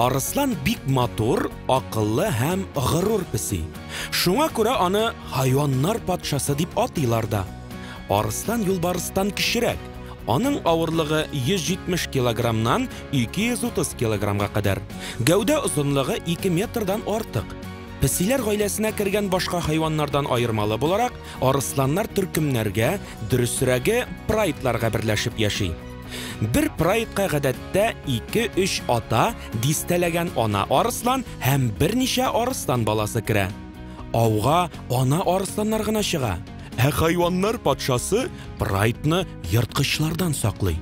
Арыслан бик матур, акыллы һәм горур песи. Шуңа күрә аны хайваннар патшасы дип атыйлар да. Арыслан юлбарыстан кечерәк, Аның авырлыгы 170 килограммнан 230 килограммга кадәр. Гәүдә озынлыгы 2 метрдан артык. Песиләр гаиләсенә кергән башка хайваннардан аермалы буларак, арысланнар төркемнәргә, дөресрәге, прайдларга берләшеп яши. Бер прайдка гадәттә 2-3 ата, дистәләгән ана арыслан һәм берничә арыслан баласы керә. Ауга ана арысланнар гына чыга. Ә хайваннар патшасы Прайтны ерткычлардан саклый.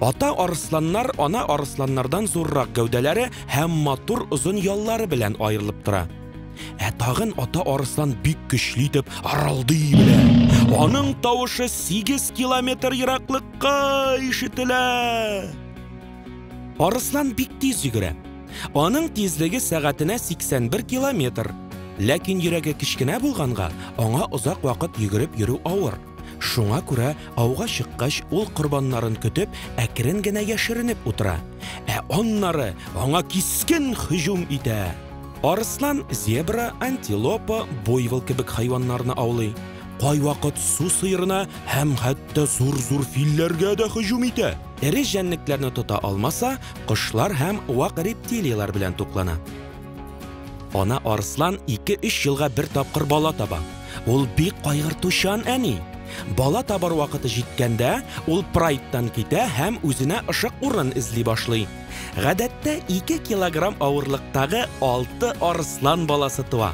Ата арысланнар ана арысланнардан зуррак гәүдәләре һәм матур озын яллары белән аерылып тора. Ә тагын ата арыслан бик көчле итеп аралдый белә. Аның тавышы 8 километр ераклыкка ишетелә. Арыслан бик тиз йөгерә. Аның тизлеге сәгатенә 81 километр. Ләкин йөрәге кечкенә булганга, аңа озак вакыт йөгереп йөрү авыр. Шуңа күрә ауга чыккач, ул корбаннарын көтеп, әкрен генә яшеренеп утыра. Ә аннары аңа кискен һөҗүм итә. Арыслан зебра, антилопа, буйвол кебек хайваннарны аулый. Кайвакыт су сыерына һәм хәтта зур-зур филләргә дә һөҗүм итә. Эре җәнлекләрне тота алмаса, кошлар һәм вак рептилияләр белән туклана. Ана арыслан 2-3 елга бер тапкыр бала таба. Ул бик кайгыртучан әни. Бала табар вакыты җиткәндә, ул прайдтан китә һәм үзенә ышык урын эзли башлый. Гадәттә 2 килограмм авырлыктагы 6 арыслан баласы туа.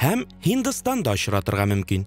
һәм Һиндстанда очратырга мөмкин.